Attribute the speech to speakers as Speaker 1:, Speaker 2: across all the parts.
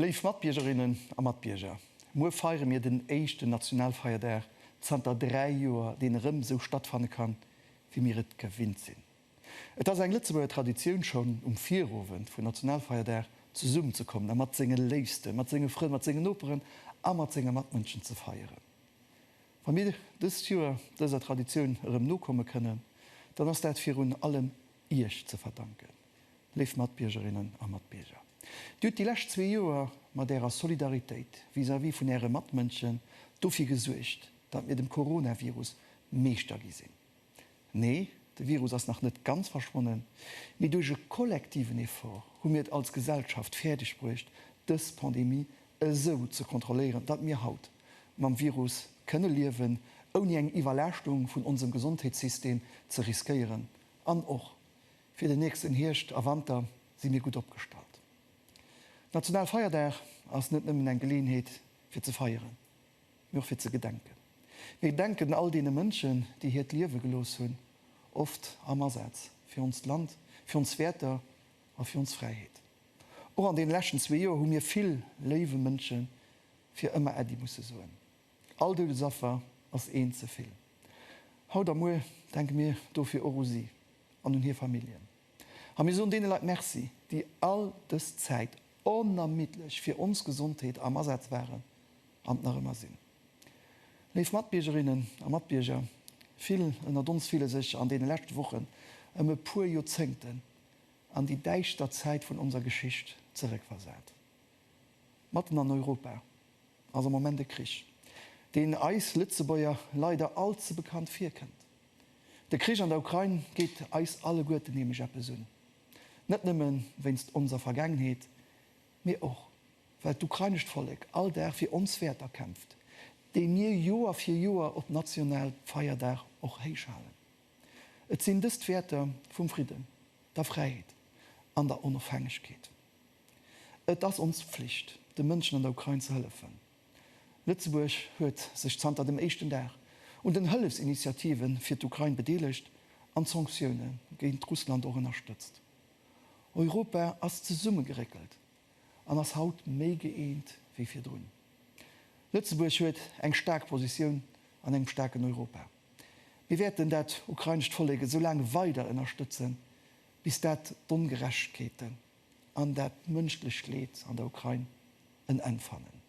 Speaker 1: Léif Matbiergerinnen a Matbierger, muer feiere mir den éischten Nationalfeierdag zanter dräi Joer, deen erëm esou stattfanne kann, wéi mir et gewinnt sinn. Et ass eng Lëtzebuerger Traditioun, schonn um Virowend vun Nationalfeierdag zesummen ze kommen a mat senge Léifsten, mat senge Frënn, mat sengen Noperen a mat senge Matmënschen ze feieren. Wa mir dëst Joer dëser Traditioun erëm nokomme kënnen, dann ass dat virun allem Iech ze verdanken, léif Matbiergerinnen a Matbierger. Dir hutt déi lescht zwee Joer mat Ärer Solidaritéit vis-à-vis vun Äre Matmënschen dofir gesuergt, datt mir dem Coronavirus Meeschter gi sinn. Nee, de Virus ass nach net ganz verschwonnen, mee duerch e kollektiven Effort hu mir et als Gesellschaft fäerdeg bruecht, dës Pandemie esou ze kontrolléieren, datt mir haut mam Virus kënne liewen, ouni eng Iwwerlaaschtung vun onsem Gesondheetssystem ze riskéieren. An och fir den nächsten Hierscht a Wanter si mir gutt opgestallt. National Feierdag ass net nëmmen eng Geleeënheet fir ze feieren, mee och fir ze gedenken. Mir gedenken all deene Mënschen, déi hiert Liewe gelooss hunn, oft am Asaz fir onst Land, fir ons Wäerter a fir ons Fräiheet. Och an deene leschten zwee Joer hu mir vill léiwe Mënsche fir ëmmer Äddi musse soen. All Doudesaffer ass eent ze vill. Haut a muer denke mir dofir och u si an un hir Familljen. A mir soen deene Leit Merci, déi all dës Zäit onermiddlech fir ons Gesondheet am Asaz waren an nach ëmmer sinn. Léif Matbiergerinnen a Matbierger, vill ënnert ons fille sech an deene leschte Wochen ëm e puer Joerzéngten an déi däischter Zäit vun onser Geschicht zeréckversat. Matten an Europa ass am Moment e Krich, deen eis Lëtzebuerger leider all ze bekannt virkënnt. De Krich an der Ukrain geet eis alleguerten nämlech eppes un. Net nëmme wéinst onser Vergaangenheet, mee och well d'ukrainescht Vollek all Dag fir ons Wäerter kämpft, déi mir Joer fir Joer op national Feierdag och héich halen. Et sinn dës d'Wäerter vum Fridden, der Fräiheet an der Onofhängegkeet. Et ass ons Pflicht, de Mënschen an der Ukrain ze hëllefen. Lëtzebuerg huet sech zanter dem éischten Dag un den Hëllefsinitiative fir d'Ukrain bedeelegt an d'Sanktioune géint Russland och ënnerstëtzt. Europa ass zesummegeréckelt an ass haut méi gëeent wéi virdrun. Lëtzebuerg huet eng staark Positioun an engem staarken Europa. Mir wäerten dat ukrainescht Vollek esou laang weider ënnerstëtzen, bis dat d'Ongerechtegkeeten, an dat mënschlecht Leed an der Ukrain en Enn fannen.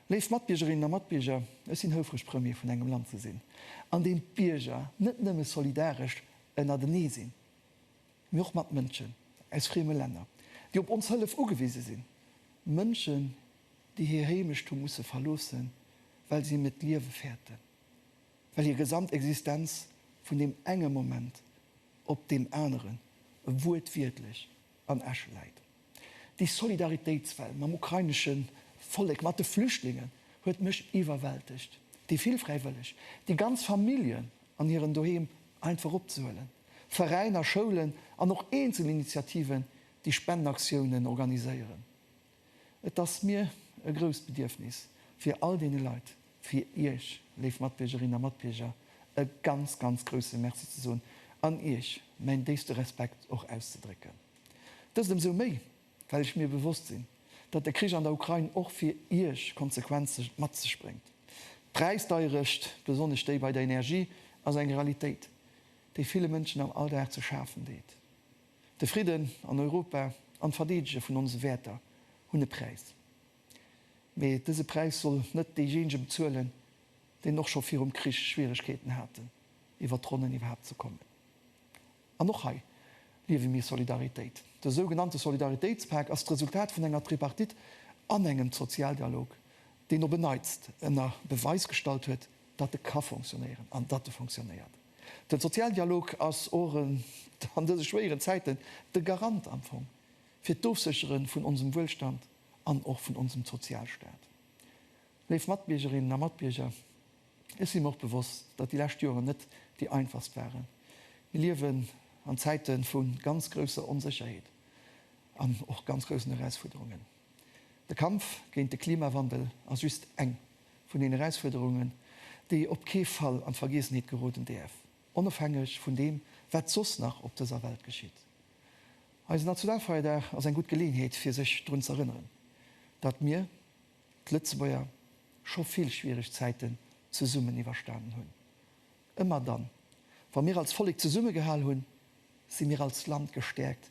Speaker 1: Léif Matbiergerinnen a Matbierger, ech sinn houfreg Premier vun engem Land ze sinn, an deem d'Bierger net nëmme solidaresch ënnertenee sinn, mee och mat Mënschen aus frieme Länner, déi op ons Hëllef ugewise sinn, Mënschen, déi hir Heemecht hu musse verloossen, well si net d'Liewe fäerten. well hir gesamt Existenz vun deem enge Moment op deem aneren wuertwiertlech an Asche läit. Déi Solidaritéitswell mam ukrainesche Vollek, mat de Flüchtlingen huet mech iwwerwältegt. Déi vill Fräiwëlleg, déi ganz Familljen an hiren Doheem einfach opzehuelen, Veräiner, Schoulen an och eenzel Initiativen, déi Spendenaktiounen organiséieren. Et ass mir e grousst Bedierfnis, fir all deene Leit, fir Iech, léif Matbiergerinnen a Matbierger, e ganz, ganz grouse Merci ze soen an Iech mäin déifste Respekt och auszedrécken. Dëst ëmsou méi, well ech mir bewosst sinn, datt de Krich an der Ukrain och fir Iech Konsequenze mat sech bréngt. D'Präisdeierecht, besonnesch déi bei der Energie, ass eng Realitéit, déi ville Mënschen am Alldag ze schafen deet. De Fridden an Europa an d'Verdeedege vun onse Wäerter hunn e Präis. Mee dëse Präis soll net deejéinege bezuelen, deen och scho virum Krich Schwieregkeeten haten, iwwert d'Ronnen iwwerhaapt ze kommen. An och hei liewe mir Solidaritéit. De sougenannte Solidaritéitspak ass d'Resultat vun enger Tripartite an engem Sozialdialog, deen op en Neits ënner Beweis gestallt huet, datt e ka fonctionnéieren an datt e fonctionnéiert. Den Sozialdialog ass och an dëse schwéieren Zäiten de Garant am Fong fir d'Ofsécheren vun onsem Wuelstand an och vun onsem Sozialstaat. Léif Matbiergerinnen a Matbierger, ech si mer och bewosst, datt déi lescht Joeren net déi einfachst waren. Mir liewen an Zäiten vun ganz grousser Onsécherheet an och ganz groussen Erausfuerderungen. De Kampf géint de Klimawandel ass just eng vun den Erausfuerderungen, déi op kee Fall an d'Vergiessenheet geroden däerf, onofhängeg vun deem, wat soss nach op dëser Welt geschitt. Eise Nationalfeierdag ass eng gutt Geleeënheet, fir sech drun z'erënneren, datt mir, d'Lëtzebuerger, scho vill schwiereg Zäiten zesummen iwwerstanen hunn. Ëmmer dann, wa mir als Vollek zesummegehal hunn, si mir als Land gestäerkt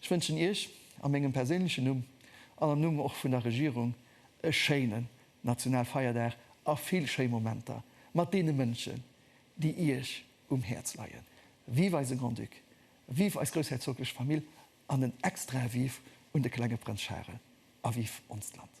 Speaker 1: Ech wënschen Iech a mengem perséinlechen Numm an am Numm och vun der Regierung e schéinen Nationalfeierdag a vill schéi Momenter mat deene Mënschen, déi Iech um Häerz leien. Vive eise Grand-Duc, vive eis groussherzoglech Famill an en extrae Vive un de klenge Prënz Charel a vive onst Land!